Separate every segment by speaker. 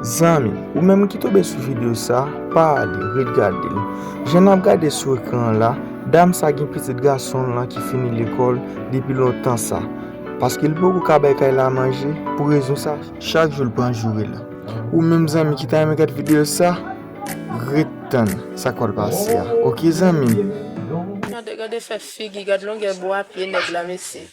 Speaker 1: Zanmi, ou menm ki tonbe sou video sa, pa ale, ret gade l. Jan n ap gade sou ekran an la, dam sa gen pitit gason l lan ki fini lekòl depi lontan sa. Paske li poko ka bay kay la manje, pou rezon sa, chak jou l pran joure l. Ou menm zanmi ki ta renmen gad video sa, ret tann sa k pral pase a. Ok zanmi m. Gade, gade
Speaker 2: fè figi, gad longè bwa pye nèg la mesye.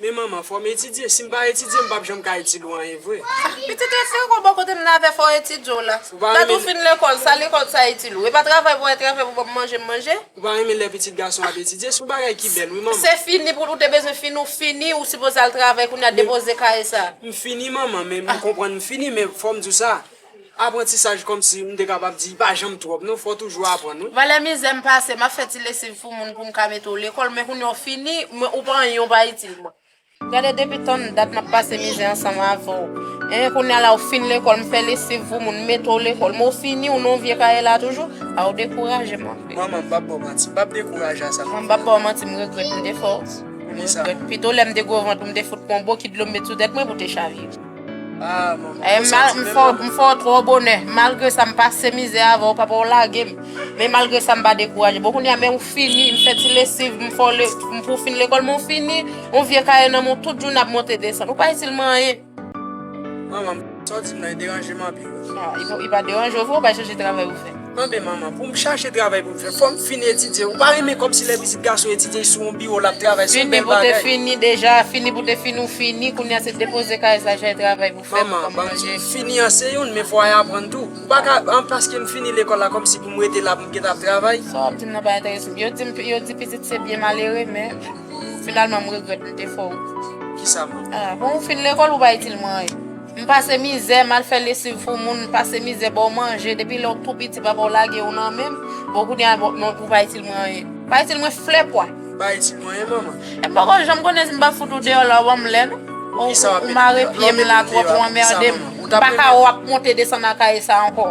Speaker 2: Men manman fòm etidye
Speaker 3: sim pa etidye m pap janm ka itil ou anyen vre. Pitit ou fin gwo
Speaker 2: bò kote m la vè fòw etidye w la. Dat ou fin lekòl sa lekòl sa itil ou. Epa travay pou wè travay pou banm manje m manje. Ou pa renmen lè
Speaker 3: pitit gason ap etidye son bagay ki bèl wi manman. Se fini pou ou te
Speaker 2: bezwen fini ou fini ou sipoze al travay kounya depoze kaye sa. M fini manman men
Speaker 3: m konprann m fini men fòm di w sa Aprantisaj kòmsi m te kapab di pa janm twòp non fò w toujou aprann wi. Valè mizè m pase,
Speaker 2: map fè ti lesiv pou moun pou m ka mete w lekòl men kounye a w fini mwen ou pa anyen w pa itil mwen. Gade depi tann dat map pase mizè ansanm avè w eh kounye a la w fin lekòl m fè lesiv pou moun m mete w lekòl men w fini w nan vye kaye la toujou ah w dekouraje m anpil. Manman m pap ba w manti
Speaker 3: m pap dekouraje a sa. Manman m pap ba w manti m regrèt
Speaker 2: m te fè w. Poukisa? M regrèt pito lè m te gwo vant ou m te fout pran w bokit dlo m met sou tèt mwen pou te chavire. Ah
Speaker 3: maman, eh, mal, m fè m fè
Speaker 2: trop bonè. Malgré ça, m passé misère avant, papa ou lagé m. Mais malgré ça, m pas découragé. Bon, kounya, mais ou fini, m fè ti lessive, m fò le, m pou fin l'école, m fini, on vieux cahier nan mon tout jour n'a monté descendre. Ou pas itil m rien. Maman, m
Speaker 3: santi m nan dérangé m anpil. Ah, il pas dérangé,
Speaker 2: ou pas changer travail ou fè. Mande manman pou m
Speaker 3: chache travay pou m fè fò m fin etidye ou pa renmen kòmsi lè pitit gason etidye sou yon biwo lap travay son bèl bagay. Fini pou te fini
Speaker 2: deja fini pou te fini ou fini kounya se depoze kay sa jay travay pou fè pou kòm manje. Fini
Speaker 3: an se youn men fò ay aprann tou ou pa ka an paske m fini lekòl la kòmsi pou m rete la pou m gentan ap travay. Sa wap di m nan pa enterese
Speaker 2: m yo di pitit se byen malere men. Finalman m regrèt m te fè w. Kisa
Speaker 3: m. A, bon ou fin lekòl ou
Speaker 2: pa itil mwen anyen. M pase mizè, m al fè lesiv pou moun, m pase mizè ba w manje, depi lè w tou piti papa w lage w nan men m, bon kounye a ou pa itil mwen anyen. Ou pa itil mwen flè pwa. Ou pa itil mwen anyen
Speaker 3: manman. E m poko janm konnen
Speaker 2: si m pa fout ou deyò la ou ban m lè non. Ou mare pye m la twòp ou anmède m. M pa ka wè w ap monte desann nan kaye sa ankò.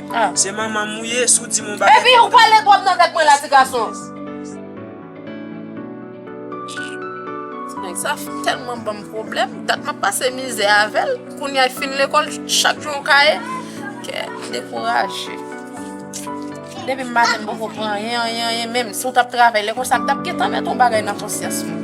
Speaker 3: Se manmanm ou ye si w di m yon bagay konsa. Epi ou pale twòp
Speaker 2: nan tèt mwen la ti gason. Ti nèg sa tèlman banm pwoblèm, dat map pase mizè avèl, kounya li fin lekòl chak jou yon kaye, kèm dekouraje. Depi m maten m poko pran anyen anyen anyen menm, si w tap travay lè konsa m tap gentan mèt yon bagay nan konsyans mwen.